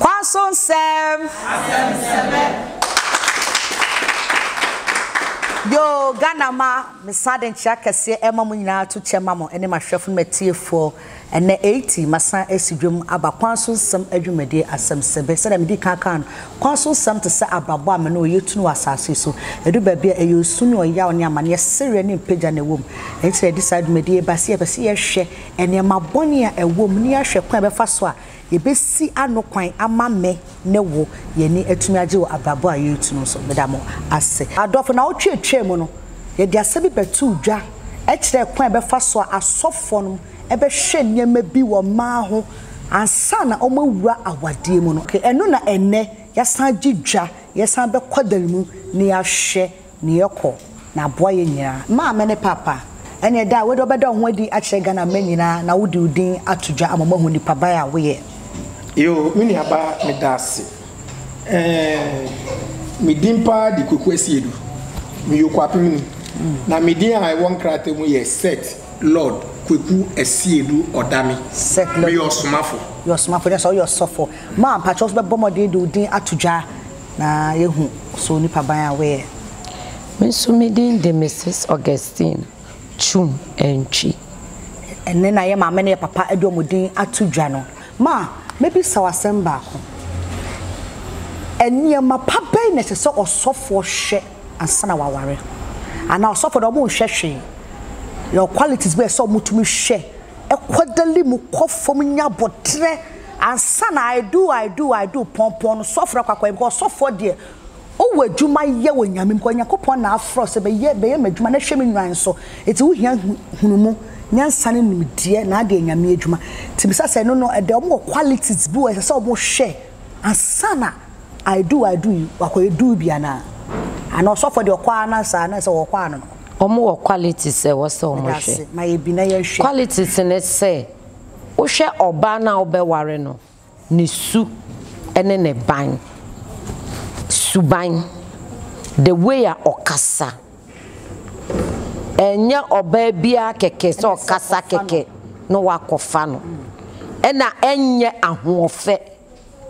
Kwaso nsɛm. Asɛm sɛmɛ. Yoo Ghana ma mesan de nkyea kɛseɛ ɛma mo nyinaa to kyɛ ma mo ɛne mahwɛfo ne matiefoɔ ɛnɛ eiti masan ɛsi dwom aba Kwaso nsɛm adwumadie asɛm sɛbɛ sɛdeɛ medi kan kaa no Kwaso nsɛm te sɛ abrabɔ a mene ɔyɛ tunu wɔ asaase so ɛdu baabi a ɛyɛ osu ne ɔyaw ne amaneɛ sereɛ ne mpagya na ɛwɔ mu ɛnti na yɛde saa dwumadie ba sɛ yɛpɛ sɛ yɛhwɛ nneɛma bɔne a ɛwɔ mu ne yɛahwɛ kwan a yɛbɛfa so a Yɛbɛsi ano kwan ama me ne wo yɛn ani atumi agye wɔ abrabɔ a yɛretu no so. Meda mo ase. Adɔfo, nnawɔtwe a ɛtwaam mu no, yɛde asɛm bi bɛtoo dwa kyerɛɛ kwan a ɛbɛfa so a asɔfoɔ no bɛhwɛ nneɛma bi wɔ mmaa ho ansa na wɔawura awadeɛ mu no. Ɛno na ɛnnɛ yɛasan agye dwa, yɛsan bɛkɔ dan mu na yɛahwɛ Ne yɛ kɔ na aboa yɛ nyinaa. Maame ne papa ɛneɛ daa wode ɔbɛda wo ho adi akyerɛ Ghana mma nyinaa na wode wo din ato dwa ama ɔmahu nipa ba a woyɛ. Yoo me nua ba medase ɛɛɛ me din paa de Kwaku Asiedu meyɛ Okuapemni na me din a ɛwɔ nkrataa mu yɛ Seth Lord Kwaku Asiedu Odame meyɛ ɔsomafo. Yɛ ɔsomafo ne sɛ woyɛ ɔsɔfo maa mpakyɛw nso bɛbɔ mmɔden de wo din ato dwa. na yɛahu so nnipa ban a woyɛ. Me nso me din de Mrs. Augustine Twum Antwi. Ɛnnɛ na yɛn maame ne yɛn papa de wɔn din ato dwa no. Ma mebisa wo asɛm baako. Nneɛma pa bɛn na ɛsɛ sɛ ɔsɔfoɔ hwɛ ansa na waware? Anaa ɔsɔfoɔ deɛ wɔnhwɛ hwee? Yɛwɔ qualities bi a ɛsɛ sɛ wɔtumi hwɛ, ɛkɔ dali mu kɔ fam nya aboterɛ. ansa na I do I do I do pɔnpɔn no sɔfrɛ kwakwaa yi because ɔsɔfoɔ deɛ owɔ adwuma yɛ wɔ nyame mu kɔ nyankopɔn na afrɛ sɛ bɛyɛ bɛyɛ m'adwuma na hwɛ me nwan so eti wohia hunumu nyansa ne nimdeɛ na adeɛ nyame adwuma ti bisa sɛ no no ɛdɛ ɔmo wɔ qualities bi wɔ ɛsɛ sɛ ɔmo hwɛ ansa na I do I do yi wakɔyɛ do bi anaa ana ɔsɔfoɔ deɛ ɔkɔ ana saa na sɛ ɔkɔ ano no. Ɔmo wɔ qualities ɛwɔ sɛ ɔmo hwɛ qualities ne sɛ Wohwɛ ɔbaa no a wobɛware no, ne su ne ne ban, suban, the way a ɔkasa. Ɛnyɛ ɔbaa biara kɛkɛ sɛ ɔkasa kɛkɛ na woakɔfa no. Ɛna ɛnyɛ ahoɔfɛ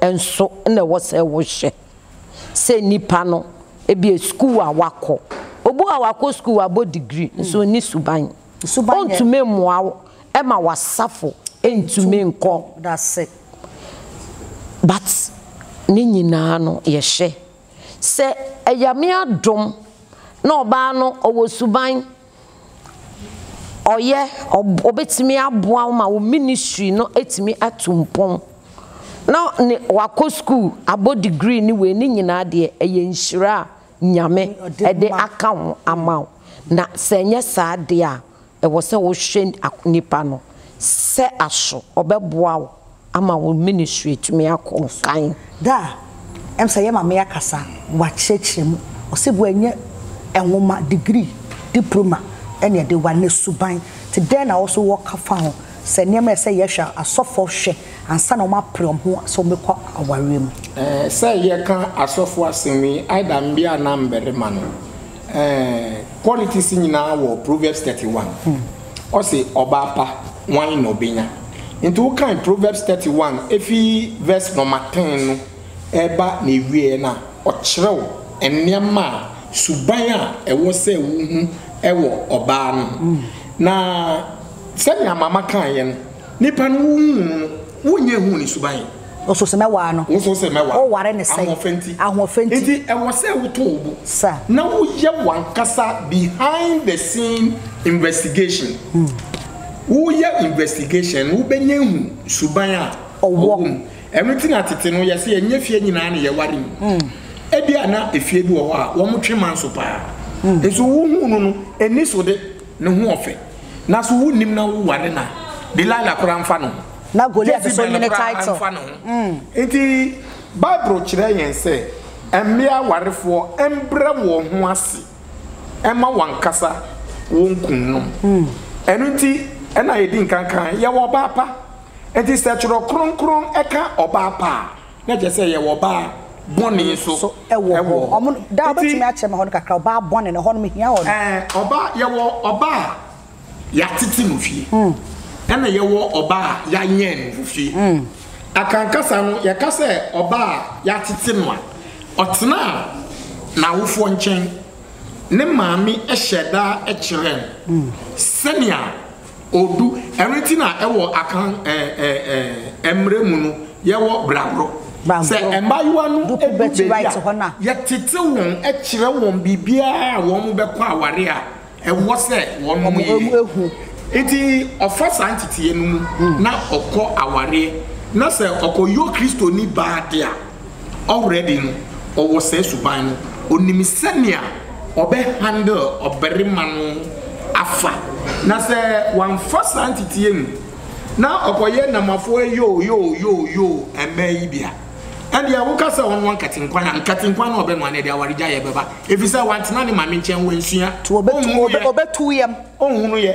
nso na ɛwɔ sɛ wohwɛ. Sɛ nipa no, ebia sukuu a wakɔ. Obi wɔ hɔ a wakɔ sukuu, wabɔ degree nso ɔnni suban. ɔntumi mmoa wo ma w'asafo ntumi nkɔ n'ase. But ne nyinaa no yɛhyɛ sɛ Ayame adom na ɔbaa no ɔwɔ suban, ɔyɛ, ɔbɛtumi aboa wo ma wo ministry no atumi atu mpɔn na ne, wakɔ school abɔ degree ne wei ne nyinaa deɛ ɛyɛ nhyira a Nyame de aka ho ama wo, na sɛ ɛnyɛ saa deɛ a, ɛwɔ sɛ wohwɛ nipa no sɛ aso ɔbɛboa wo ama wo ministry atumi akɔ kan. Da a ɛm sɛ yɛ Maame akasa, wakyerɛkyerɛ mu, ɔsɛ bu ɛnyɛ nwoma, degree, diploma ɛna ɛde ware, na suban, te dɛn na wo nso wɔ ka fa ho, sɛ nneɛma ɛsɛ yɛhwɛ a, asɔfoɔ hwɛ. Ansa na wɔapere wɔn ho sɛ wɔbɛkɔ awareɛ mu. Ɛɛ sɛ yɛka asɔfo asɛm yi either mmea anaa mmarima no ɛɛ qualities nyinaa wɔ proverbs thirty one hmm. ɔsi ɔbaa pa wan na ɔbɛnya nti wokan proverbs thirty one efi verse nɔma ten no ɛba na ewie na ɔkyerɛw nneɛma a suban a ɛwɔ sɛ wohu ɛwɔ ɔbaa no hmm. na sɛnea mama kan yɛ no. Nipa no wo nhuu no, wo nyɛ nhuu ne suban. Woso sɛ mɛwaa no. Woso sɛ mɛwaa. Wo ware ne sɛn. Ahoɔfɛ nti. Ahoɔfɛ nti. Nti ɛwɔ sɛ wo to wo bo. Sir. Na wo yɛ wankasa behind the scene investigation. Wo yɛ investigation no wo bɛ nyɛ ahu suban a ɔwɔ mu. Ɛno nti na tete no yɛ sɛ ɛnyɛ fie nyinaa na yɛ ware mu. Ɛbi a na ɛfie bi wɔ hɔ a wɔn twe manso paa. Nso wo huu no no ɛni so de. Ne ho ɔfɛ na so wonnim na wo ware no a Delilah koraa mfa ne ho. Na Goliath so nye ne title. Jezebel koraa mfa ne ho. Nti Bible kyerɛ yɛn sɛ mmea awarefoɔ mbrɛ wɔn ho ase mma wɔn ankasa wɔn kunnom. Ɛno nti na yɛdi nkan kaa yɛwɔ ɔbaa pa. Nti sɛ twerɛ kronkron ka ɔbaa pa a. Na kyerɛ sɛ yɛwɔ ɔbaa bɔne nso so ɛwɔ hɔ. Wɔn no, da ɔbɛtumi akyerɛ me hɔ no kakra, ɔbaa bɔne no, ɛhɔ no mehia hɔ no. Ɛɛ, ɔbaa, yɛwɔ ɔbaa a yɛatete no fie, ɛna yɛwɔ ɔbaa a yɛanyɛn no wɔ fie. Akankasa no, yɛka sɛ ɔbaa a yɛatete no a, ɔtenaa n'awofoɔ nkyɛn, ne maame hyɛɛ da kyerɛɛ no sɛnea. Odu ɛno nti na ɛwɔ Akan ɛɛ mmerɛ mu no yɛwɔ bragorɔ. Sɛ mmaayewa no du baabi a yɛtete wɔn kyerɛ wɔn biribiara a wɔn bɛkɔ aware a ɛwɔ sɛ wɔnom yɛ. Nti ɔfa saa nteteɛ no mu na ɔkɔ awareɛ na sɛ ɔkɔyɔ Kristoni baa de a. already no ɔwɔ saa suban no ɔnim sɛnea ɔbɛ handle ɔbarima no afa na sɛ wamfa saa nteteɛ mu na ɔkɔyɛ namafoɔ yoo yoo yoo yoo mmaa yi bi a ɛndeɛ woka sɛ ɔnoa nkatenkwan a nkatenkwan no ɔbɛnoa no ɛde awaregyaeɛ bɛba ɛfiri sɛ wantena ne maame nkyɛn wansua ɔnhunu yɛ ɔnhunu yɛ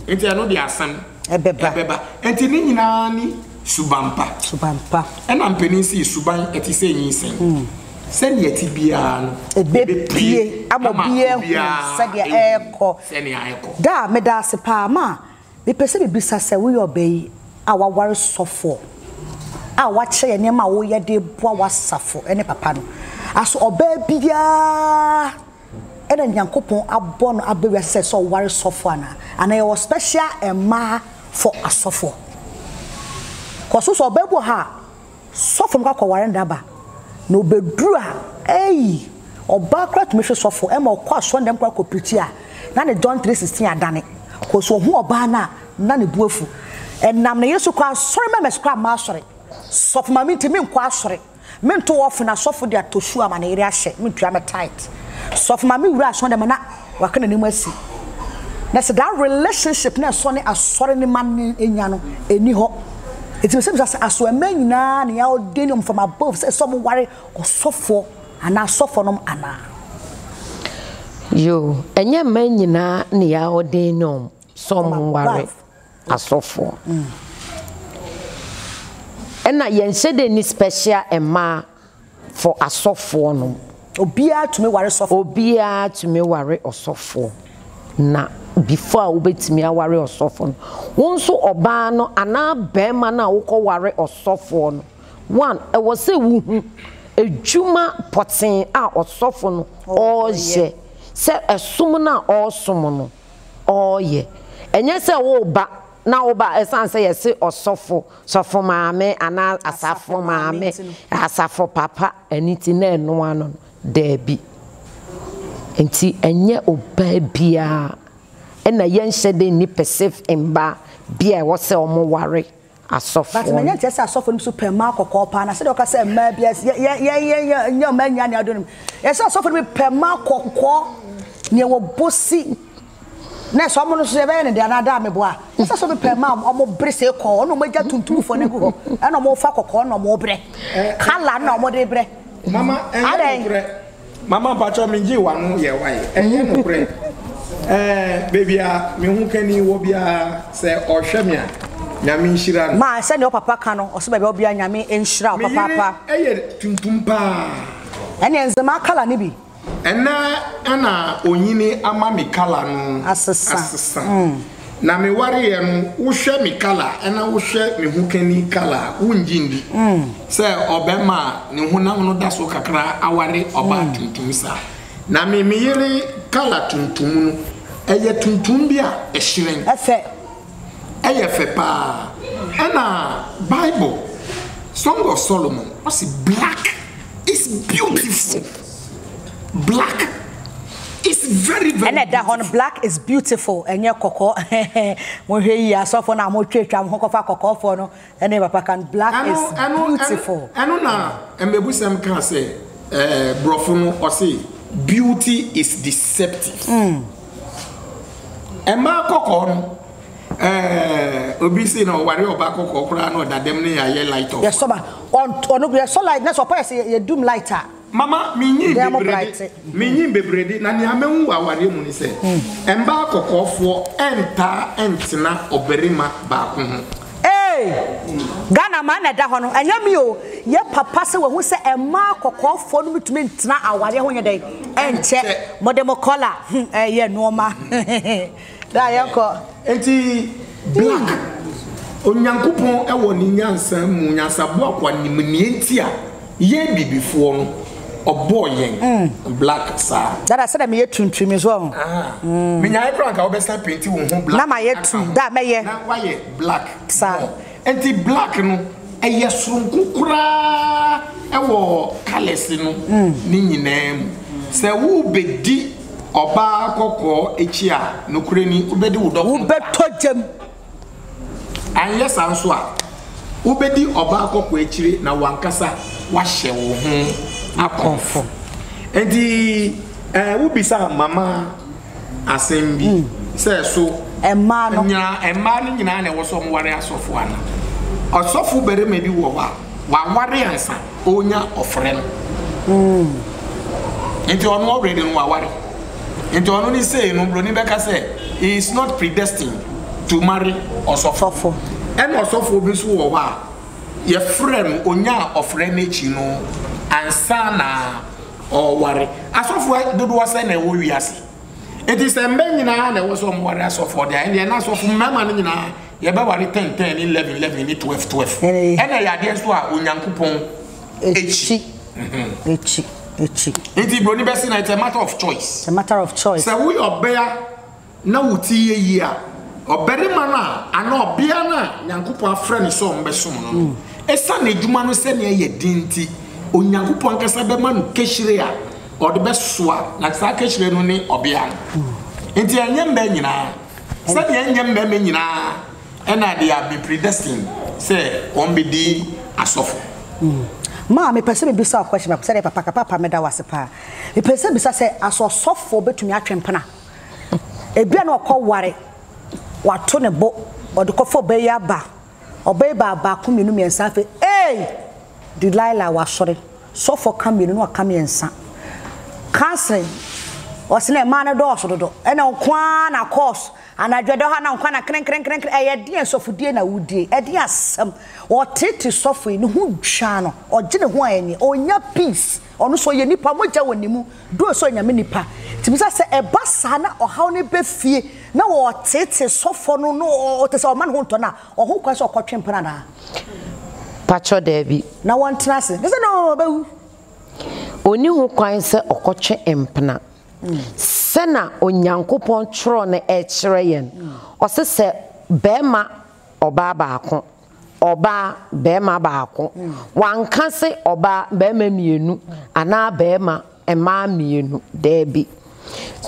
nti ɛno deɛ asɛm ɛbɛba. Ɛbɛba. Enti ne nyinaa ne suban pa. Suban pa. Ɛna mpanin sii suban ɛte sɛ nyinsɛn. Sɛnea ɛte biara no. Ɛbɛpue ama obiara ahu sɛdeɛ ɛrekɔ. Sɛnea ɛrekɔ. Daa, meda ase paa. Ma, mepɛ sɛ mebisa sɛ woyɛ ɔbaa yi a waware sɔfoɔ a wakyerɛ yɛn nneɛma a woyɛ de reboa w'asafo ne papa no. Aso ɔbaa biara. Ɛna Nyankopɔn abɔ no aba wiase sɛ sɛ ɔware sɔfo anaa? Anaa yɛwɔ special mmaa for asɔfoɔ? Kɔ so sɛ ɔbaa bi wɔ ha a sɔfo no kɔ akɔ ware no da ba na ɔbɛduru a eii ɔbaa koraa tumi hwe sɔfo ɛma ɔkɔ asɔre dɛm koraa kɔ prikyi a na ne John 3:16 adane kɔ so ɔhu ɔbaa no a na ne bu afu ɛnam ne yere so koraa asɔre mɛmɛs koraa mmaa asɔre sɔfo ma me nti me nkɔ asɔre. Mento ɔfen asɔfo de atɔ su ama ne yere ahyɛ, mentua me tithe. Sɔfo ma me wura asɔre dɛm na waka n'anim asi. Na sɛ that relationship na ɛsɔ ne asɔre ne ma no nya no, ɛnni hɔ. Enti me sɛ bisa sɛ aso ɛmɛ nyinaa ne yɛ ɔde ne ɔm from above sɛ ɛsɛ ɔmo ware ɔsɔfoɔ anaa asɔfoɔ nom anaa? Yoo, ɛnyɛ mmaa nyinaa ne yɛ ɔde ne ɔm sɛ ɔmo ware. asɔfoɔ. Ɛna yɛnhyɛ dɛ ni special mmaa for asɔfoɔ nom. Obiara tumi ware sɔfoɔ. Obiara tumi ware ɔsɔfoɔ na before a wobɛtumi aware ɔsɔfoɔ no wo nso ɔbaa no anaa barima no a wokɔ ware ɔsɔfoɔ no one ɛwɔ sɛ wohu adwuma pɔtee a ɔsɔfo no ɔreyɛ sɛ ɛsom no a ɔresom no ɔreyɛ. Ɛnyɛ sɛ woreba na woba a ɛsiane sɛ yɛse ɔsɔfo, sɔfo maame anaa asafo maame, asafo papa nti na ɛnoa no no. Daabi. Enti ɛnyɛ ɔbaa biara na yɛnhyɛ da nni pɛsɛf mmaa bi a ɛwɔ sɛ wɔware asɔfoɔ no. But manya nteɛ sɛ asɔfoɔ nom so pɛ mmaa kɔkɔɔ paa na sɛdeɛ ɔka sɛ mmaa bi as yɛ yɛ yɛ yɛ yɛ nyɛ ɔmaa nyia ne adɔnom yɛ sɛ asɔfoɔ no bi pɛ mmaa kɔkɔɔ neɛ wɔ bosi na ɛsɛ ɔmo no so yɛbɛyɛ ne deɛ anaa daa meboa yɛ sɛ asɔfoɔ bi pɛ mmaa ɔmo bere se kɔɔ ɔno ɔmo agya tuntumfoɔ no agu hɔ ɛna ɔmo fa kɔkɔɔ na ɔmo brɛ kala na ɔmo de brɛ adɛn. Mama mpakyɛw me gye wano yɛ wai ɛnyɛ nokorɛ ɛɛ baabi a me ho kani wɔ biara sɛ ɔhwɛ me a nyame nhyira no. Maa sɛdeɛ wo papa ka no ɔse baabi a wɔ biara nyame nhyira wo papaapa. Me yere yɛ tuntum paa. Ɛneɛ nzemaa colour no bi. Ɛnɛ na onyini ama me colour no asesa. Na me wareɛ no wo hwɛ me kala ɛna wo hwɛ me ho kani kala a wo ngye ndi sɛ ɔbɛma a ne honam no da so kakra aware ɔbaa tuntum saa na me me yere kala tuntum no ɛyɛ tuntum bi a ɛhyerɛn ɛfɛ ɛyɛ fɛ paa ɛna bible song of Solomon ɔse black is beautiful. Black is very very. Ɛna ɛda hɔ no black is beautiful ɛnyɛ kɔkɔɔ mo hwɛ yie asɔfo na mo twa twa mo ho kɔfa kɔkɔɔfoɔ no ɛne papa kan black is beautiful. Ɛno na mmebusɛm kaa sɛ ɛɛ brɔfo no ɔse beauty is deceptive ɛmaa kɔkɔɔ no ɛɛ obi se na ɔware ɔba kɔkɔɔ koraa na ɔda dɛm ne yɛ ayɛ light off. Yɛsɔ ba ɔno yɛsɔ light na sɛ ɔpa yɛ sɛ yɛ dum light a. Mama, minyin bebreede, minyin bebreede, na nea mahu wɔ awareɛ mu ne sɛ, mmaa kɔkɔɔfoɔ ntaa ntena ɔbarima baako ho. Eei! Ghana mmaa na ɛda hɔ no, ɛnyɛ me o, yɛ papa sɛ wahu sɛ mmaa kɔkɔɔfoɔ no ntumi ntena awareɛ ho nyɛ dɛn nkyɛ, mode mo kɔla, hmm, ɛɛyɛ nnoɔma, hehehe. Daa yɛkɔ. Enti Black, Onyankopɔn wɔ ne nyansa mu, nyansaboa kwa nim nea enti a yɛn abibifoɔ no, ɔbɔɔ yɛn Black saa. Dada sɛdeɛ meyɛ tuntum yi so ɔho. Aha, menyaeɛ koraa nka wobɛsan penti wo ho Black. Na mayɛ tu, daa mɛyɛ. Na woayɛ Black more. Saa. Enti black no ɛyɛ soronko koraa wɔ colours no ne nyinaa mu. Sɛ wobɛdi ɔbaa kɔkɔɔ akyi a, nokorɛ ni, wobɛdi wo dɔkono ka. Wobɛtɔ gya mu. Anyɛ saa nso a, wobɛdi ɔbaa kɔkɔɔ akyire na w'ankasa woahyɛ wo ho akɔmfo. Enti wobisa mama. asɛm bi mm. sɛ so mmaa no nyinaa mmaa no nyinaa na ɛwɔ so ɔmware asɔfo ana ɔsɔfo barima bi wɔ hɔ a waware ansa ɔnya ɔfrɛ no mm. nti ɔno ɔwere no waware nti ɔno ne sei no buroni bɛka sɛ he is not predestined to marry ɔsɔfo ɛna ɔsɔfo bi nso wɔ hɔ a yɛfrɛ no ɔnya ɔfrɛ no akyi no ansa na Ɔreware. Asɔfo dodoɔ sɛn na ɛwɔ wiase? Enti sɛ mma nyinaa na ɛwɔ sɛ wɔware asɔfoɔ deɛ, ɛndeɛ na asɔfo mmarima no nyinaa yɛbɛware 10 10 ne 11 11 ne 12 12. Ɛna ɛyɛ adeɛ nso a Onyankopɔn akyi. Akyi, akyi. Enti buroni bɛse na it's a matter of choice. It's a matter of choice. Sɛ woyɛ ɔbea. na wo ti yɛ yie a, ɔbarima no a anaa ɔbea no a Nyankopɔn afrɛ no sɛ ɔmmɛsom no no, esiane adwuma no sɛnea ɛyɛ den nti, Onyankopɔn ankasa bɛma no kahyire a ɔde bɛsoa, na saa kahyire no ne ɔbea no. Enti ɛnyɛ mmaa nyinaa, sɛnea ɛnyɛ mmarima nyinaa na they have been predestined sɛ wɔbɛdi asɔfo. Maa mepɛ sɛ mebisa wo question baako, sɛdeɛ papa ka, papa meda wo ase paa. Mepɛ sɛ bisa sɛ, asɛ ɔsɔfoɔ bɛtumi atwe mpena? Ebia na ɔkɔware, wato ne bo, ɔde kɔfa ɔbaa yi aba, ɔbaa yi baa baako, mmienu, mmiɛnsa, afei ei! Delilah wasɔre. Sɔfoɔ ka mmienu na waka mmiɛnsa. Counseling, ɔse na mmaa no dɔɔso dodo, ɛna wo nko ara na kɔɔs, anadwo ɛdɔ ha na wo nko ara na krenkrenkrenkren, ɛyɛ ɛdeɛn sɔfodie na wodie, ɛdeɛn asɛm, ɔteete sɔfo yi, ne ho dwa no, ɔgye ne ho a ɛnyɛ, ɔnnya peace. Ɔno nso ɔyɛ nipa, mogya wɔ ne mu, duro nso yɛ nyame nipa. Nti bisa sɛ ɛba saa na ɔhaw no ba fie na ɔteetee sɔfɔ no na ɔtɛ sɛ ɔma ne ho ntɔ no a, ɔho kwan sɛ ɔkɔtwe mpena anaa? Pakyɛ daabi. Na wɔntena ase. Bisa sɛ na ɔbɛwu. Ɔnni ho kwan sɛ ɔkɔtwe mpena. Sɛna Onyankopɔn twerɛ no kyerɛ yɛn, ɔse sɛ bɛɛma ɔbaa baako ɔbaa barima baako. Wanka se ɔbaa barima mmienu anaa barima mmaa mmienu. Daabi.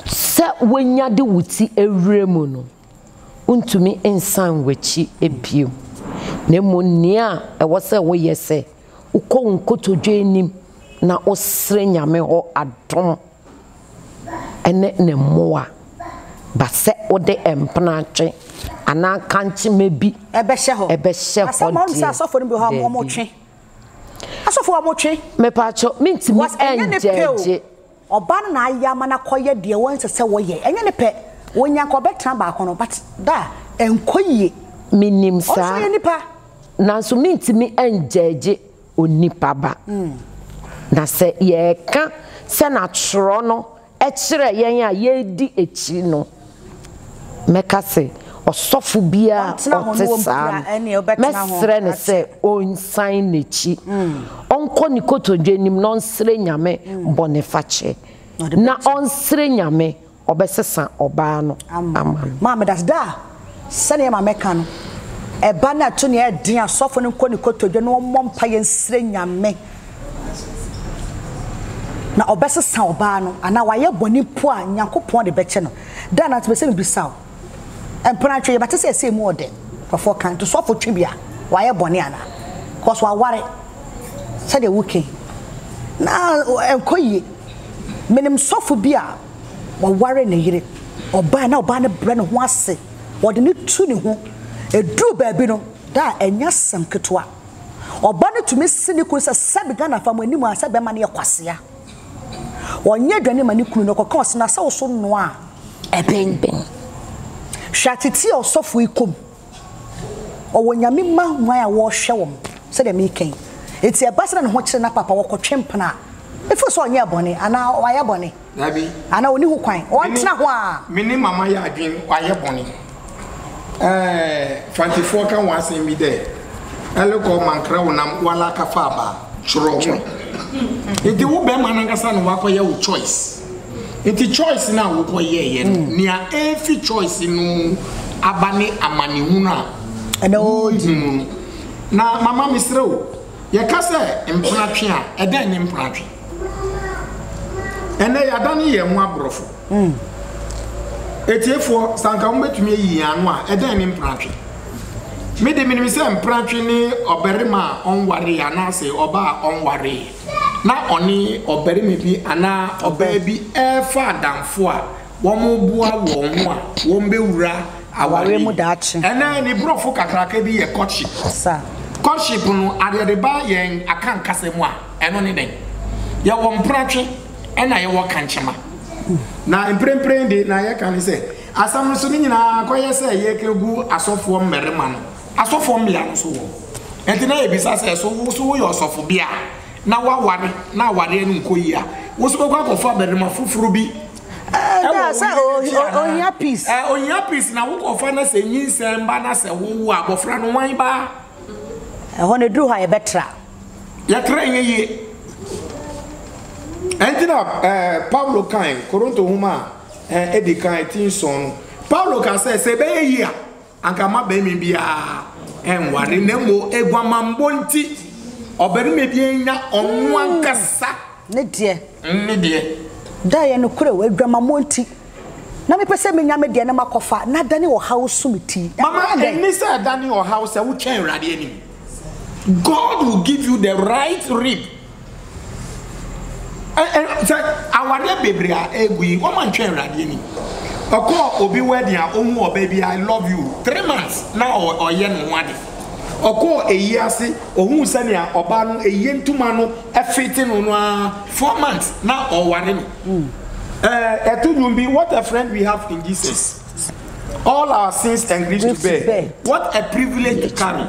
Sɛ wonya de wo ti awura mu no, wontumi nsan w'akyi bio. Na mmom nea ɛwɔ sɛ woyɛ sɛ wokɔ wo nkotodwe anim na wosrɛ Nyame hɔ adom. ne ne mmoa ba sɛ wode mpenatwe anaa kankyema bi bɛhyɛ hɔ deɛ, Asɔfo a wɔtwe. Mepatwo mintimi ɛnjɛgye. Ɛnyɛ ne pɛ o. Ɔbaa no na ayɛ ama no akɔyɛ deɛ wɔn nsɛ sɛ wɔyɛ. Ɛnyɛ ne pɛ. Wɔnya nka ɔbɛtena baako no but da ɛnkɔ yie. Menim saa. Ɔno nso yɛ nipa. Nanso mintimi ɛnjɛgye Onipa ba. Na sɛ yɛka sɛ na twerɛ no kyerɛ yɛn a yɛredi akyiri no, mɛka sɛ ɔsɔfo biara a ɔte saa no, mɛsrɛ no sɛ ɔnsan n'akyi, ɔnkɔ ne kotodwe anim na ɔnsrɛ Nyame bɔnefakyɛ, na ɔnsrɛ Nyame. Ɔbɛsesa ɔbaa no ama no. Maame das daa sɛdeɛ maame ka no ɛba no ɛto nea ɛden asɔfo no nkɔ ne kotodwe na ɔmmɔ mpaeɛ nsrɛ nyame na ɔbɛsesa ɔbaa no anaa wayɛ bɔne mpo a nyankopɔn de bɛkyɛ no daa na mepɛ sɛ mebisa wo mpena twe yɛbɛte sɛ ɛsɛ mu ɔdɛ nkurɔfoɔ kan to sɔfo twe bi a wayɛ bɔne anaa because waware sɛdeɛ woke na ɛnkɔ yie menim sɔfo bi a Ɔware ne yere. Ɔbaa na ɔbaa no brɛ ne ho ase. Ɔde no tu ne ho. Ɛduruu baabi no, daa ɛnyɛ asɛm ketewa. Ɔba no tumi se ne kunu sɛ, sɛbe Ghanafoɔ mo anim a sɛ bɛrima no yɛ kwasea. Ɔnyɛ aduane mma ne kunu na ɔkɔka ɔse na sɛ wo so noa a ɛben. Hwɛ ateteɛ a ɔsɔfoɔ yi kɔ mu. ɔwɔ nyame mma hwan a wɔhwɛ wɔn sɛdeɛ meka yi ɛti ɛba sɛ na ne ho kyerɛ na papa wɔkɔtwe mpena a ɛfiri sɛ ɔnyɛ bɔne anaa wayɛ bɔne anaa ɔni ho kwan ɔntena ho a me ne mama yɛ adwen wayɛ bɔne ɛɛ fantifoɔ ka wɔn asɛm bi dɛ ɛlekɔ mankra wo nam wala kafa aba twerɛ ho ɛti wo bɛrima no ankasa na wakɔyɛ wo choice Nti choice no a wokɔ yɛɛyɛ no mm. nea ɛfi choice no mu aba ne amanehunu a ɛna ɔɔyi mu no na mama mesrɛ o yɛka sɛ mpenatwe a ɛdɛn ne mpenatwe ɛnɛ yɛada ne yɛn ho aborɔfo mm. ɛtiefoɔ sanka wobɛtumi ayi yɛn ano a ɛdɛn ne mpenatwe mede menim sɛ mpenatwe ne ɔbarima a ɔnwareeɛ anaasɛ ɔba a ɔnwareeɛ na ɔne ɔbarima bi anaa ɔbaa bi refa adamfo a wɔboa wɔn ho a wɔbɛwura aware mu daakye. Ɛnnɛ, ne borɔfo kakraka bi yɛ courtship. Courtship no, adeɛ de ba yɛn Akan kasa mu a, ɛno ne dɛn? Yɛwɔ mpratwe ɛna yɛwɔ kankyema. Na mprempren de, nea yɛka ne sɛ, asɛm no so no nyinaa akɔyɛ sɛ yɛrekɛgu asɔfoɔ mmarima no. Asɔfoɔ mmea no nso wɔ hɔ. Ɛnti na yɛbisa sɛ, so wo nso woyɛ ɔsɔfobea a, na woaware na awareɛ no nkɔ yie a, wo nso bɛkɔ akɔfa barima foforɔ bi wɔ wo yere no akyi anaa? Ohia peace na wokɔfa na sɛ nyinsɛn ba na sɛ wowo a, abɔfra no wan ba? Ɛhɔ no ɛduru hɔ a yɛbɛtra. Yɛtra nyɛ yie. Ɛnti na Paulo kae Koronto nwoma a ɛdi kan ti nson no, Paulo kaa sɛ, sɛ ɛbɛyɛ yie a, Anka mma barima biara nware, na mmom aguamammɔ nti, ɔbarima biara nnya ɔno ankasa ne deɛ. Ne deɛ. Daa yɛ nokorɛ o, aguamammɔ nti, na mepɛ sɛ menya me deɛ na makɔfa, na adane ɔhaw so me ti. Mama, ɛnne sɛ ɛdane ɔhaw sɛ wotwɛn Awurade anim. God will give you the right rib. Sɛ awareɛ bebree a ɛgu yi wɔn antwɛn awurade anim ɔkɔɔ obi wedding a ɔhu ɔbaa bi I love you three months na ɔyɛ ne ho ade ɔkɔɔ ɛyi ase ɔhu sɛnea ɔbaa no ɛyɛ ntoma no ɛfete no no ara four months na ɔware no ɛto dwom bi what a friend we have in Jesus all our sins and griefs to bear what a privilege to carry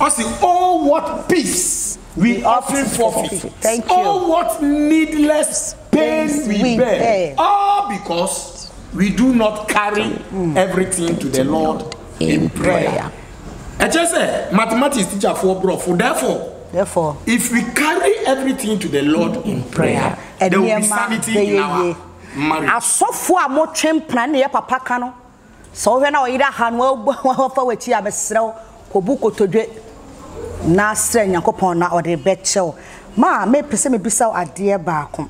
ɔsi oh what peace. we often forfeit, Thank you. all what needless pain we bear, all because we do not carry everything to the Lord in prayer. Ɛkyɛ sɛ mathematics teacher for brɔfo therefore Therefore, if we carry everything to the Lord in prayer there will be nneɛma sanity in bɛyɛ our yie. marriage. Asɔfo a motwe mpena ne yɛ papa ka no Sɛ wohwɛ na ɔyere aha no afa w'akyi a, mesrɛ wo, kɔbu kotodwe na srɛ Nyankopɔn na ɔde bɛkyɛ wo. Ma mepɛ sɛ mebisa wo adeɛ baako.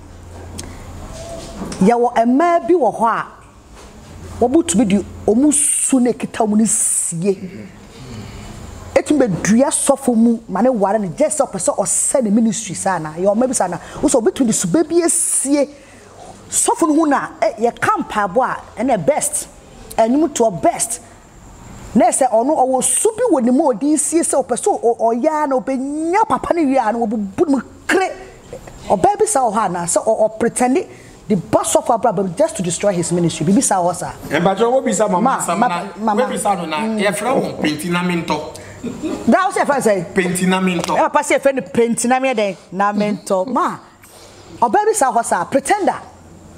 Yɛwɔ mmaa bi wɔ hɔ a, wɔtumi de wɔn su na ɛkita wɔn no sie. Ɛtumi bɛdua sɔfo mu ma ne ware no gyɛ sɛ ɔpɛ sɛ ɔsɛ ne ministry saa anaa? Yɛwɔ mmaa bi saa anaa? Wo sɛ obi tumi de sube bi asie Sɔfo no hu no a, eh, yɛka mpaebɔ a, ɛnna best, nnwomtoɔ best. Na ɛyɛ sɛ ɔno ɔwɔ su bi wɔ ne mu a ɔde resie sɛ ɔpɛ sɛ ɔyɛ ara na ɔbɛnya papa no wie a na wabubu ne mu kere. Ɔbaa bi saa wɔ hɔ anaa? Sɛ ɔpretɛnde de ba sɔfo abrabɔ mu just to destroy his ministry. Biribi saa wɔ hɔ saa. Mpakyɛw wobisa mama asɛm na wobisa no na yɛfrɛ wɔn pentinamintɔ. Daa wo sɛ yɛfrɛ no sɛn? Pentinamintɔ. Ɛna papa sɛ yɛfrɛ no pentinamintɔ dɛn? Namentɔ. Ma. Ɔbaa bi saa hɔ saa, pretender.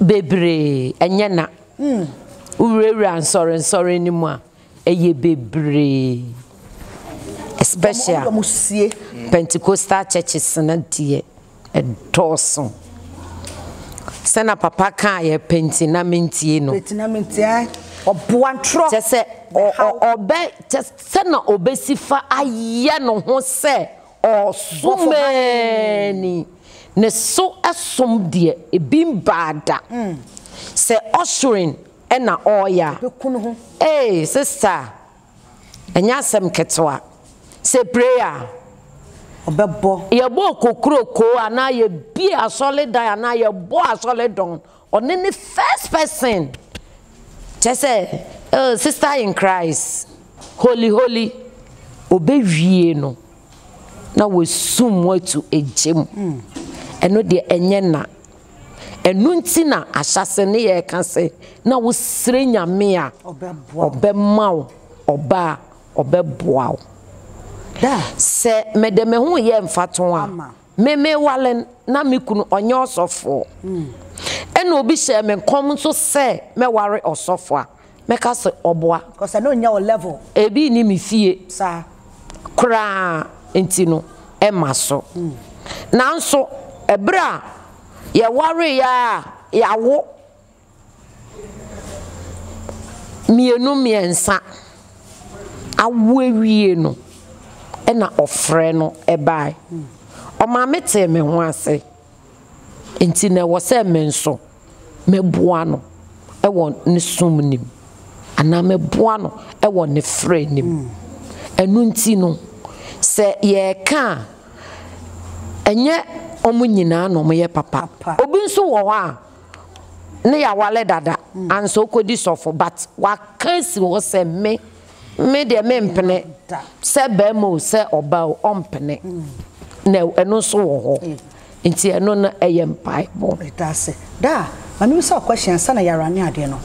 Bebree, ɛnyɛ na. Wowurawura nsɔrensɔre no mu a, ɛyɛ bebree. Especially. Wɔn wɔn sie. Pentecostal churches no deɛ, ɛdɔɔso. Sɛ na papa kaa yɛ penti na mentie no. Penti na mentie ae. Ɔboa ntorɔ. Kyɛ sɛ ɔ ɔ ɔbɛ kyɛ sɛ na ɔbɛsi fa ayɛ ne ho sɛ Ɔsomaani ne so som deɛ ebi mbaa da. Sɛ ushering na ɔɔyɛ a, ee sista a, ɛnyɛ asɛm ketewa. Sɛ prayer a, yɛbɔ okokuroko anaa yɛbie asɔredan anaa yɛbɔ asɔredɔn, Ɔno ne first person kyerɛ sɛ oh sister in Christ holy holy ɔbɛwie no na wɔasum mu atu egya mu hmm. ɛno deɛ ɛnyɛ na ɛno nti na ahyɛse ne yɛ ka sɛ na wosrɛ nyame a ɔbɛma wo ɔba a ɔbɛboa wo sɛ mede me ho yɛ mfato a Me mewale no, na me kunu ɔnyɛ ɔsɔfoɔ. Ɛna obi hyɛɛ me nkɔm nso sɛ mɛware ɔsɔfoɔ a, mɛka sɛ ɔboa. Because ɛno nyɛ wo level. Ebi nni me fie Saa. koraa nti no, ɛmma so. Nanso, ɛberɛ a yɛwareeɛ ara a, yɛawo. Mmienu mmiɛnsa awo awie no na ɔfrɛ no bae. Ɔmaame tee me ho ase, nti na ɛwɔ sɛ me nso mɛboa no wɔ ne som no mu anaa mɛboa no wɔ ne frɛ no mu. Ɛno nti no, sɛ yɛreka a, ɛnyɛ wɔn nyinaa na wɔyɛ papa. Obi nso wɔ hɔ a. ne yɛawale dada ansa ɔkɔdi sɔfo but waka si hɔ sɛ me me deɛ mempene sɛ bɛrima o sɛ ɔba o ɔmpene na ɛno nso wɔ hɔ nti ɛno no ɛyɛ mpaebɔ. Ɛdaase. Daa, ma me bisa question ansa na yɛara ne adeɛ no.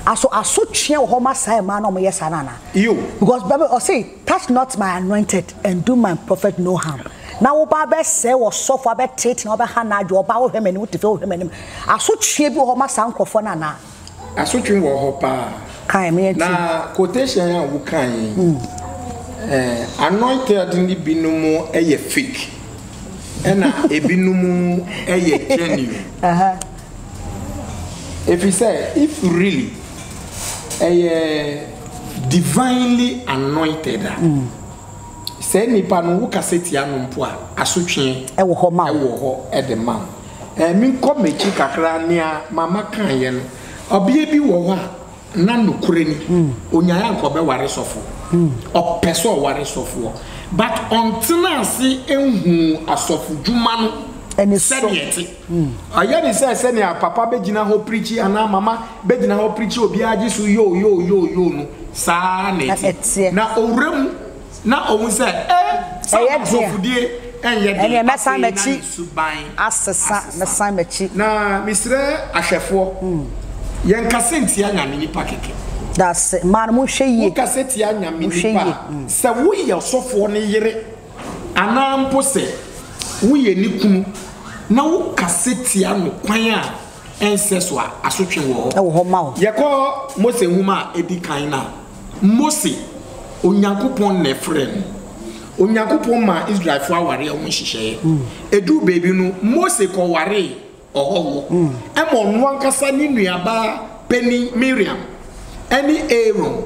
Aso asotwea wɔ hɔ ma saa mmaa na wɔyɛ saa no anaa? Yoo. Because bɛbɛ ɔse. Touch not my anointed and do my prophet no harm. Na wo ba bɛ sɛ wɔ sɔfo abɛ treat na ɔbɛ ha na adwo ɔba wo hwɛ m'anim wo tefe wo hwɛ m'anim asotwe bi wɔ hɔ ma saa nkorɔfoɔ no anaa. Asotwe wɔ hɔ paa. Kae me yɛn ti. Na quotation a wo kae yi eh anointed ne bi no mo ɛyɛ fake ɛna ebi no mo ɛyɛ genuine. Efisɛ if really ɛyɛ divinely anointed a, saa nipa no wo kasa tia no mpo a asotwe wɔ hɔ ma wo. Wɔ hɔ de ma wo. Ɛɛ me nkɔ m'akyi kakra nea mama kaeɛ no, ɔbea bi wɔ hɔ a na nokorɛ ni onyaeɛ anka ɔbɛware sɔfo, ɔpɛ sɛ ɔware sɔfoɔ but ɔntena ase nhuu asɔfodwuma no sɛdeɛ ɛte. Ayɛ ne sɛ sɛnea papa bɛgyina hɔ pirikyi anaa mama bɛgyina hɔ pirikyi obiara gye so yoo yoo yoo yoo no saa ara na ɛteɛ. Na ɔwura mu na ɔhu sɛ eh sɛ ɔkorɔmfodie ɛnyɛ den afei na ne suban asesa. Na mesrɛ ahwɛfoɔ yɛnkasa ntia Nyame nipa kɛkɛ. Wokasa tia Nyame nipa a sɛ woyɛ ɔsɔfoɔ no yere. anaa mpo sɛ woyɛ ne kunu na wokasa tia no kwan a ɛnsɛ so a, asotwe wɔ hɔ. Ɛwɔ hɔ ma wo. Yɛkɔ Mose nhoma a edi kan no a, Mose, Onyankopɔn na ɛfrɛɛ no. Onyankopɔn maa Israelfo awareɛ ho nhyehyɛeɛ. Ɛduu baabi no, Mose kɔwaree ɔhɔhoɔ ma ɔno ankasa ne nuabaa panin Miriam ne Aaron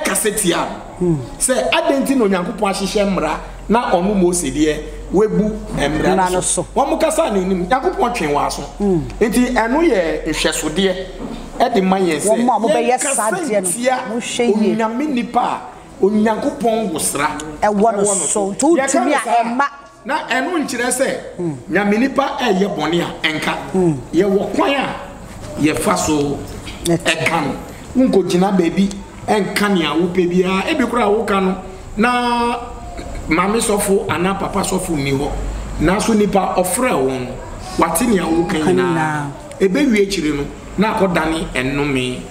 kasa tiaa no sɛ, Adɛn nti na Onyankopɔn ahyehyɛ mmara na ɔno Mose deɛ wabu mmara no so? Wɔkasaa n'anim, Onyankopɔn twee wɔn aso. Enti ɛno yɛ nhwɛsodeɛ de ma yɛn sɛ, yɛnkasa ntia onyame nipa a Onyankopɔn wosra wɔ no so. Yɛka no saa a, Na ɛno nkyerɛ sɛ Nyame nipa reyɛ bɔne a ɛnka. Yɛwɔ kwan a yɛfa so ka no. Wonkogyina baabi nka nea wopɛ biara. Ebi koraa woka no na maame sɔfo anaa papa sɔfo nni hɔ. Nanso nipa a ɔfrɛɛ wo no, wate nea woreka nyinaa. Ebewie akyiri no na akɔdane nnome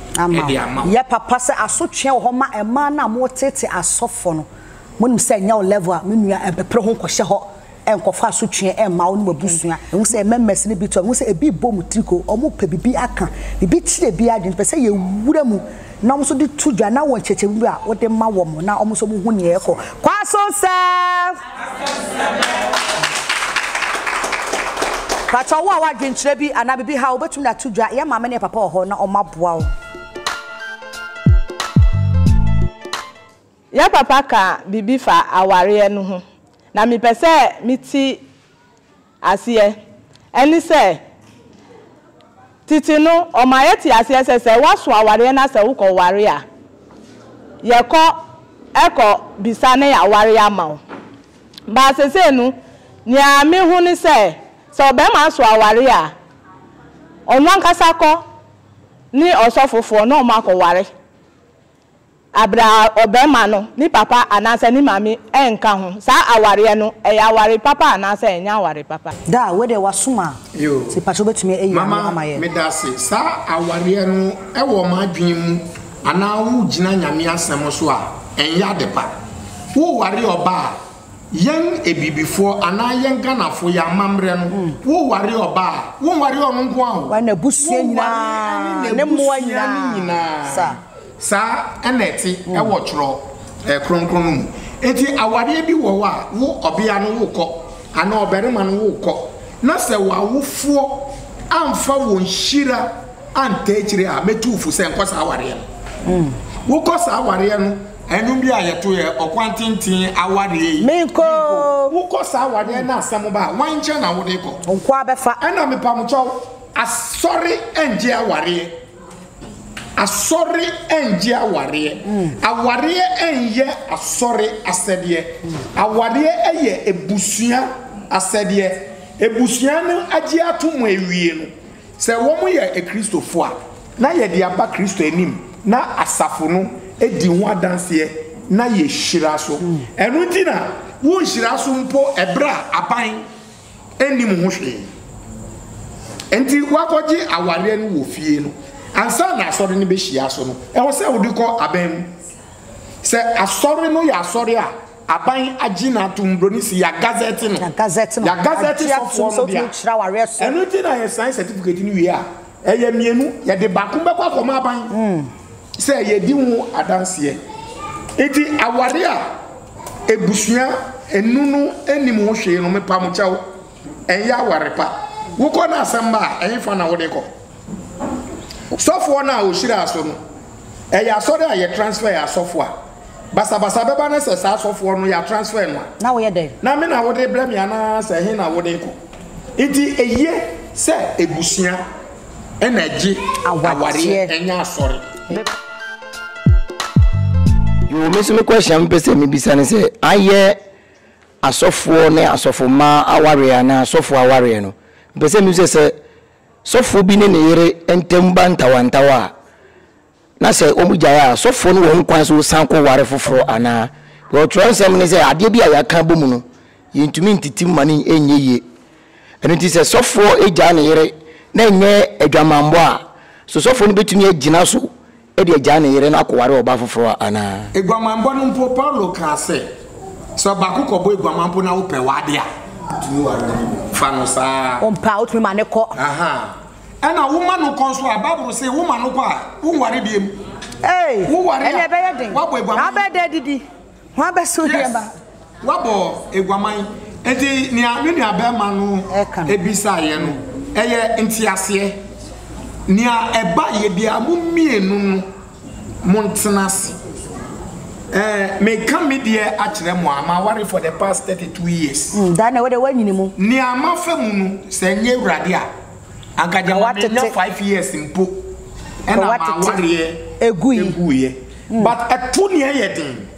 de ama wo. Yɛ papa sɛ asotwe wɔ hɔ ma mmaa no a wɔteetee asɔfo no. Monim sɛ ɛnyɛ wo level a me nua ɛmpepere ho nkɔhyɛ hɔ ɛnkɔfa asotweɛ ɛmma wo ne w'abusua. Ɛhu sɛ members no bi to ɛho sɛ ɛbi rebɔ wɔn tiri ko, wɔn pɛ biribi aka, biribi kyere ɛbi adwene, pɛ sɛ yɛwura mu na wɔn nso de to dwa na wɔ nkyerɛkyerɛmu bi a wode ma wɔn na wɔn nso wɔhu nea ɛrekɔ. Kwaso sɛ! Pakyɛ wo a w'adwenkyerɛ bi anaa biribi ha wobɛtumi de ato dwa, yɛ maame ne yɛ papa wɔ hɔ na wɔn aboa wo. Yɛn papa kaa biribi faa awareɛ no ho na mepɛ sɛ mete aseɛ. Ɛne sɛ, tete no ɔmaa yɛtee aseɛ sɛ sɛ woaso awareɛ na sɛ wokɔware a, yɛkɔ kɔ bisa na yɛaware ama wo. Baa seesei no, nea mehu ne sɛ, sɛ ɔbarima aso awareɛ a, ɔno ankasa kɔ ne ɔsɔfofoɔ na wɔakɔware. Aberɛ a ɔbarima no, ne papa anaasɛ ne maame ɛnka ho, saa awareɛ no, ɛyɛ aware papa anaasɛ ɛnyɛ aware papa. Daa, wei deɛ w'asom a, nti pakyɛ wobɛtumi ayi ano ama yɛn. Mama medase saa awareɛ no ɛwɔ m'adwene mu anaa wo gyina nyame asɛm so a ɛnyɛ adepa wo ware ɔbaa Yɛn abibifoɔ anaa yɛn Ghanafoɔ yɛn amammerɛ no wo ware ɔbaa a wo nware ɔno nko ara o wo nware ne mmoa nyinaa saa ɛna ɛte ɛwɔ twerɛ kronkron no mu ɛti awareɛ bi wɔ hɔ a wo ɔbea no wo kɔ anaa ɔbarima no wo kɔ na sɛ wo awofoɔ amfa wɔn hyira antaa akyire a mɛtu wo fo sɛ nkɔ saa awareɛ no wo kɔ saa awareɛ no. Ɛnum bi a yɛto yɛ ɔkwan tenten awareɛ yi. Menkɔ oo. Wokɔ saa awareɛ no asɛm ba a, wan nkyɛn na wode kɔ? Nkoa bɛfa. Ɛna mepamokyɛw, Asɔre ɛngye awareɛ. Asɔre ɛngye awareɛ. Awareɛ ɛnyɛ Asɔre asɛdeɛ. Awareɛ ɛyɛ abusua asɛdeɛ. Abusua no agye ato mu awie no. Sɛ wɔyɛ Kristofo a, na yɛde aba Kristo anim na asafo no di ho adanseɛ na yɛhyira so. Ɛno nti na wonhyira so mpo ɛberɛ a aban nnim ho hwee. Enti woakɔgye awareɛ no wɔ fie no, ansa na asɔre no bɛhyia so no, ɛwɔ sɛ wode kɔ aban mu. Sɛ asɔre no yɛ asɔre a Aban agye no atom, broni se yɛagazɛte no, Yɛagazɛte no, yɛagazɛte agye sɔfoɔ atom sɛ no wotumi dea. kyerɛ awareɛ so. Ɛno nti na yɛsan sɛtifukati no wie a, ɛyɛ mmienu, yɛde baako bɛkɔ akɔma aban sɛ yɛadi ho adanseɛ. Nti awareɛ a abusua anu no nnim ho hwee no, mepamkyɛ wo, ɛnyɛ aware pa. Wokɔ no asɛmma a, ɛhefa na wode kɔ? Sɔfoɔ no a ɔhyiraa so no, ɛyɛ asɔre a yɛtransfɛɛ asɔfoɔ a. Basabasa bɛba no sɛ saa sɔfoɔ no yɛ transfer no a. Na woyɛ dɛn? Na me na wode rebrɛ me anaa sɛ ɛhe na wode rekɔ? Nti eye sɛ abusua na ɛgye awareɛ ɛnyɛ asɔre. Yoo me nso me question a me pɛ sɛ me bisa ne sɛ ayɛ asɔfoɔ ne asɔfo mmaa awareɛ anaa asɔfoɔ awareɛ no me pɛ sɛ me bisa sɛ sɔfoɔ bi ne ne yere ntam ba ntawantawa a Na sɛ wɔgyae a, sɔfoɔ no wɔ ho kwan sɛ ɔsan kɔ ware foforɔ anaa? Because twerɛnsɛm no sɛ adeɛ bi a yɛaka abɔ mu no, yɛntumi ntete mu ma no nyɛ yie. Ɛno nti sɛ sɔfoɔ gyaa ne yere na ɛnyɛ adwamammɔ a, so sɔfoɔ no bɛtumi agyina so de agyaa ne yere na akɔware ɔbaa foforɔ anaa? Aguamammɔ no mpo, Paulo kaa sɛ, sɛ ɔbaako kɔbɔ aguamammɔ na wopɛ w'adeɛ a, fa no saa ara. Ɔmpɛ a, wotumi ma no kɔ. Ɛna woma no kɔ nso a, Bible se woma no kɔ a, wonware biam. Ei, Woware ɛnna a, ɛbɛyɛ den. wabɔ Na aguaman. wobɛyɛ dɛ adidi. Ho abɛso Yes, nneɛma. wabɔ aguaman. Enti nea me nuabarima no Ɛka no. bisaeɛ no, ɛyɛ nteaseɛ. Nea ɛbaeɛ biara, mo mmienu no Montena ase. Ɛɛ, meka me deɛ akyerɛ mo a, maware for the past thirty two years. Mm, Dane, wo de woanyini mu. Nea mafa mu no, sɛ ɛnyɛ Awurade a, anka gyama Watete. menya five years mpo Ka ɛna watete. m'awareɛ Egui. eguiɛ. But ɛto nea ɛyɛ den,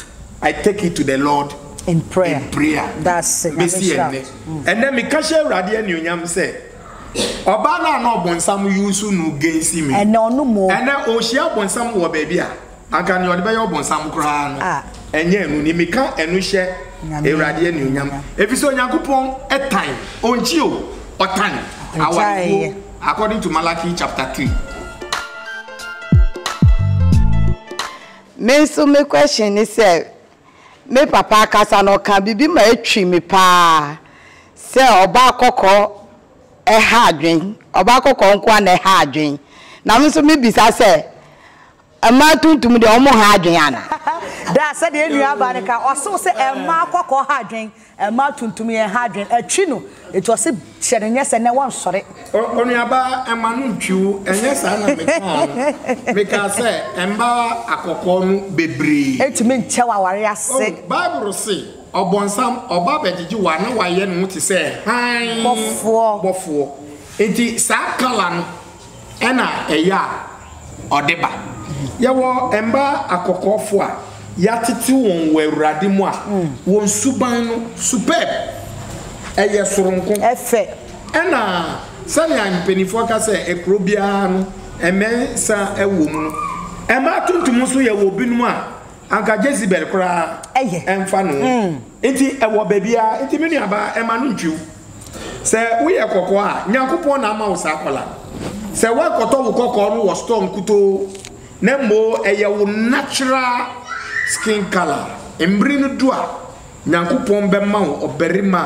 I take it to the Lord In prayer. in prayer. That's it. Bɛsi Nyame nhyira. ɛnnɛ. Ɛnnɛ meka hyɛ Awurade anuonyam sɛ, Ɔbaa no a na ɔbonsam use no gensi me. Ɛnɛ ɔno mo. Ɛnɛ ɔrehyia ɔbonsam wɔ baabi a anka nea ɔde bɛyɛ ɔbonsam koraa no ɛnyɛ ɛno ni. Meka ɛno hyɛ Awurade anuonyam efisɛ Onyankopɔn tan, ɔnkyi o, ɔtan awarefoɔ according to Malachi chapter three. Me nso me question ne sɛ Me papa akasa no ɔkaa biribi ma ɛtwii me paa sɛ ɔbaa kɔkɔɔ ɛha adwen, ɔbaa kɔkɔɔ nko ara na ɛha adwen. Na me nso mebisa sɛ, mmaa tuntum deɛ wɔn nha adwen anaa? Daa sɛdeɛ nuabaa no ka, ɔsoo sɛ mmaa kɔkɔɔ ha adwen. Ɛmma tuntum yɛn ha adwen ɛtwi no eti ɔse hyɛ no nyɛ sɛ nɛ wɔnsɔre. Onuaba ɛmma no ntwi wo ɛnyɛ saa na me kaa no mekaa sɛ ɛmmaa akɔkɔɔ no bebree. Ɛntumi nkyɛ wo aware ase. Oh bible se ɔbɔnsam ɔba abɛgyegye wo a na wayɛ ne ho te sɛ hann bɔfoɔ enti saa colour no ɛna ɛyɛ a ɔde ba. Yɛwɔ mma akɔkɔɔfoɔ a yɛatete wɔn wɔ Awurade mu a, wɔn suban no, superb, ɛyɛ soronko. Ɛfɛ. Ɛna sɛnea mpanimfoɔ ka sɛ kuro biara no, mmensa wɔ mu no, mmaa tuntum nso yɛwɔ binom a anka Jezebel koraa ɛmfa ne ho. Nti ɛwɔ baabiaa nti me nuabaa ɛma no ntwiw sɛ woyɛ kɔkɔɔ a Nyankopɔn na ama wo saa kɔla sɛ woankɔtɔ wo kɔkɔɔ no wɔ store nkutoo na mmoo ɛyɛ wo natural skin colour mmere no du a Nyankopɔn bɛma wo ɔbarima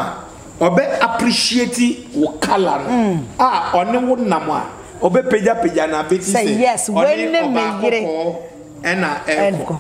a ɔbɛ appreciate wo colour no a ɔne wo nam a ɔbɛ pagya pagya na beti sɛ ɔne ɔbaa kɔkɔɔ ɛna ɛkɔ.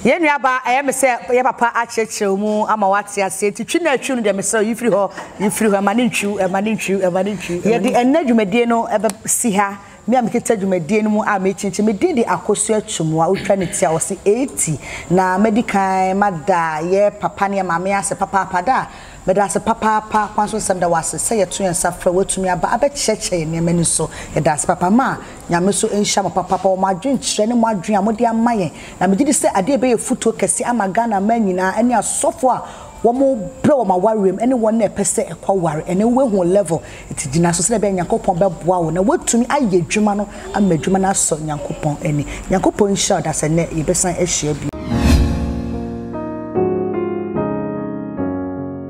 Yɛn nuabaa, ɛyɛ me sɛ yɛ papa akyerɛkyerɛ wo mu ama woate aseɛ, nti twi na twiw no deɛ mesrɛ wo, yi firi hɔ, yi firi hɔ, ɛma no ntwiw, ɛma no ntwiw, ɛma no ntwiw. Yɛde ɛnnɛ dwumadie no bɛ si ha, me a mekita dwumadie no mu a mekyinkyim, me din de Akosua Atwumua, wotwa ne ti a wɔse eeti, na mɛdi kan mada yɛ papa ne yɛ maame ase papaapa, da a. Meda wo ase papaapa, kwan so nsɛm da wo ase sɛ yɛto yɛn nsa frɛ wo atumi aba abɛkyerɛkyerɛ yɛn nneɛma ani so. Yɛda ase papa ma Nyame nso nhyira mo papaapa wɔ mo adwenkyerɛ ne mo adwene a mode ama yɛn. Na megye di sɛ adeɛ ɛbɛyɛ futuo kɛse ama Ghana mmaa nyinaa ɛne asɔfoɔ a wɔn brɛ wɔn awareɛ mu ɛne wɔn a ɛpɛ sɛ ɛkɔ aware ɛnɛ wobɛhu level Enti gyina so sɛnea ɛbɛyɛ a Nyankopɔn bɛboa wo na woatumi ayɛ adwuma no ama adwuma no asɔ Nyankopɔn ani. Nyankopɔn nhyira wo daa sɛ nnɛ yɛbɛsan ahyia bio.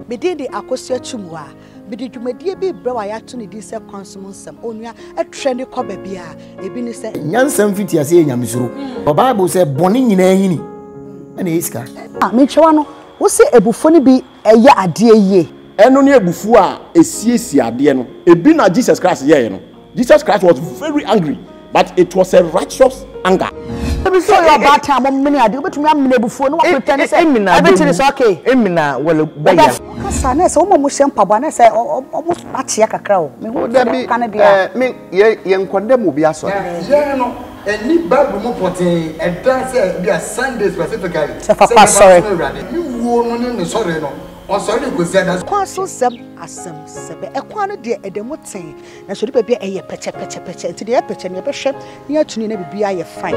Me din de Akosua Chimua. Mede dwumadie bi rebrɛ wo a yɛato ne din sɛ Kwan Som Nsɛm. Onua, trɛ ne kɔ baabi a. Ebi ne sɛ. Nyansa mfitiaseɛ yɛ nyamesuro. Wɔ Bible sɛ bɔne nyinaa nyini na ɛyɛ sika. A, mentwɛwa no. Wose abufuo no bi yɛ adeɛ yie. Ɛno ne abufuo a ɛsiesie adeɛ no. Ɛbi na Jesus Christ yɛeɛ no. Jesus Christ was very angry but it was a righteous anger. Ebi nso yɛ ɔbaatan a momene adeɛ. Wobɛtumi amene abufuo na wapretɛne sɛ wobɛte ne so ok. Emina wale bɛ yam. Ɔbɛfo kasa a na ɛsɛ wɔn a wɔhyɛ mpaboa a na ɛsɛ wɔn so akyea kakra o. Mehu sɛdeɛ woka no deɛ a. Dabi eh me yɛ yɛnkɔ dɛm obi asɔre. Yɛn no Ɛnni Bible mu pɔtee. Ɛda sɛ ebia Sunday specifically sɛ nneɛma nso ma Awurade. Ne wuo no ne ne sɔre no, ɔsɔre de kɔsi adaso. Kwan so nsɛm asɛm sɛbɛ. Ɛkwan no deɛ ɛda mu tee, nanso ɛdu baabi a ɛyɛ pɛkyɛ pɛkyɛ pɛkyɛ. Enti deɛ ɛyɛ pɛkyɛ no yɛbɛhwɛ na yɛatu no na biribiara ayɛ fine.